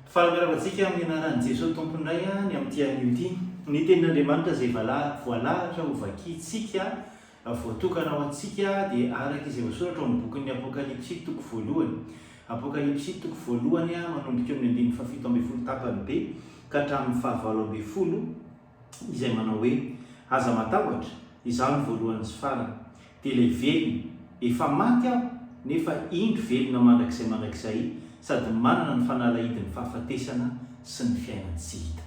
Fanambarako antsika amin'ny anaran'i Jesoa Tompo indray ny amin'ity anio ity. Ny tenin'Andriamanitra izay voalahatra ho vakintsika, voatokana ho antsika dia araka izay voasoratra ao amin'ny bokin'ny Apokalypsy toko voalohany. Apokalypsy toko voalohany manomboka eo amin'ny andininy fahafito ambin'ny folo tapany be ka hatramin'ny fahavalo ambin'ny folo. izay manao hoe, Aza matahotra, izaho ny voalohany sy farany, dia ilay velona, efa maty aho, nefa indro velona mandrakizay mandrakizay, sady manana ny fanalahidin'ny fahafatesana sy ny fiainan-tsy hita.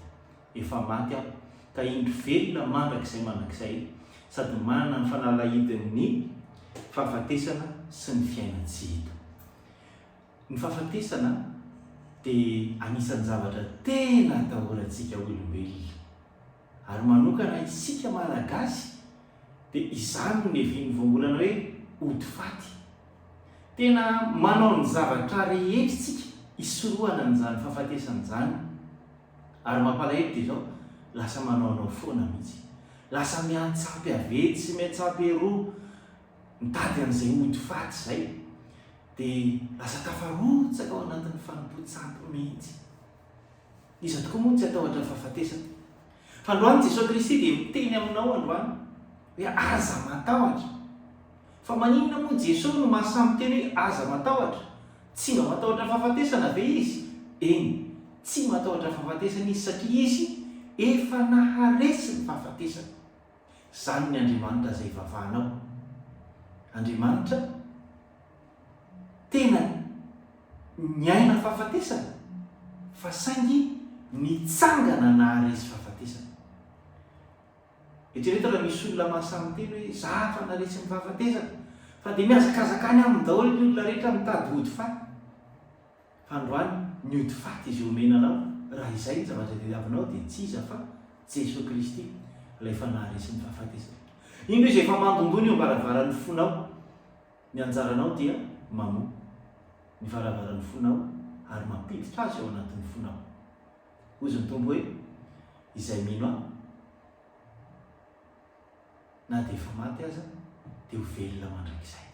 Efa maty aho, ka indro velona mandrakizay mandrakizay, sady manana ny fanalahidin'ny fahafatesana sy ny fiainan-tsy hita. Ny fahafatesana dia anisan'ny zavatra tena atahorantsika olombelona. Ary manokana isika Malagasy dia izany no nevin'ny voambolana hoe ody faty. Tena manao ny zavatra rehetra isika hisorohana an'izany fahafatesana izany. Ary mampalahelo dia izao, lasa manaonao foana mihitsy. Lasa miantsampy avetsy sy miantsampy eroa mitady an'izay ody faty izay. Dia lasa tafarotsaka ao anatin'ny fanompoan-tsampy mihitsy. Iza tokoa moa no tsy hatahotra ny fahafatesana? Androany Jesoa Kristy dia miteny aminao androany hoe aza matahotra. Fa maninona moa Jesoa no maha-samy miteny hoe aza matahotra? Tsy mba matahotra ny fahafatesana ve Izy? Eny, tsy matahotra ny fahafatesana Izy satria Izy efa naharesy ny fahafatesana. Izany ny Andriamanitra izay ivavahanao. Andriamanitra. tena niaina fahafatesana fa saingy nitsangana nahary izy fahafatesana. Eritrereto raha misy olona mahasahy miteny hoe za efa naretsy ny fahafatesana fa dia mihazakazaka any aminy daholo ny olona rehetra mitady hody faty. Androany ny ody faty izay omena anao, raha izay ny zavatra tadiavinao dia tsy iza fa Jesoa Kristy, Ilay efa naharesy ny fahafatesana. Indro Izy efa mandondona eo am-baravaran'ny fonao. Ny anjaranao dia mamoha ny varavaran'ny fonao ary mampiditra Azy ao anatin'ny fonao. Hozy ny Tompo hoe, Izay mino Ahy, na dia efa maty aza, dia ho velona mandrakizay.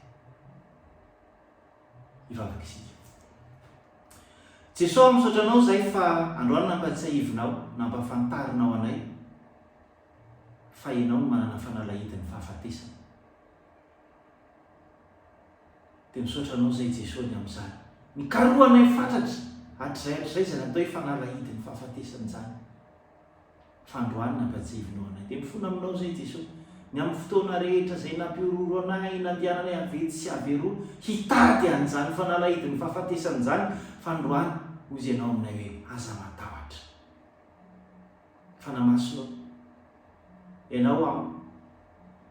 hivavaka isika. Jesoa, misaotra Anao izay fa androany nampatsiahivinao, nampafantarinao anay fa Ianao no manana fanalahidin'ny fahafatesana. Dia misaotra Anao izay Jesoa ny amin'izany. Nikarohanay fatratra hatrizay hatrizay izay natao hoe fanalahidin'ny fahafatesana izany. fandroany nampajeviny ho anay. Dia mifona aminao izay Jeso. Ny amin'ny fotoana rehetra izay nampihorohoro anay, nandehananay avetsy sy averoa hitady an'izany fanalahidin'ny fahafatesana izany, fandroany, hozy Ianao aminay hoe, Aza matahotra. Fanamasinao. Ianao am,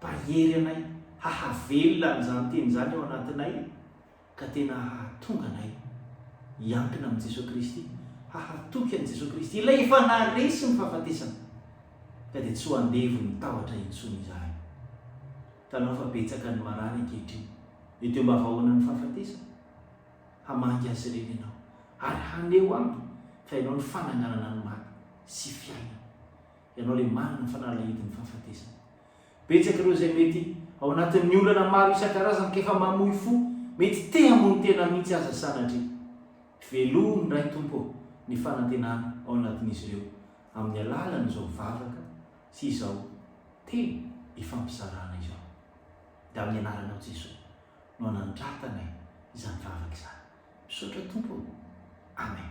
pahery anay hahavelona an'izany teny izany ao anatinay. ka tena hahatonga anay hiankina amin'i Jesoa Kristy, hahatoky an'i Jesoa Kristy, Ilay efa naharesy ny fahafatesana, ka dia tsy ho andevon'ny tahotra intsony izahay. Hitanao fa betsaka ny marary ankehitriny eto iambavahoanan'ny fahafatesana. Hamangy azy ireny ianao, ary haneho aminy fa ianao ny fananganana ny maty sy fiainana. Ianao ilay manana fanalahidin'ny fahafatesana. Betsaka ireo izay mety ao anatin'ny olana maro isan-karazany ka efa mamoy fo, mety te hamono tena mihitsy aza sanatria. Velomy indray Tompo ô ny fanantenana ao anatin'izy ireo amin'ny alalan'izao vavaka sy izao teny ifampizarana izao. Dia amin'ny anaranao Jesoa no anandratanay izany vavaka izany. Misaotra Tompo ô. Amen.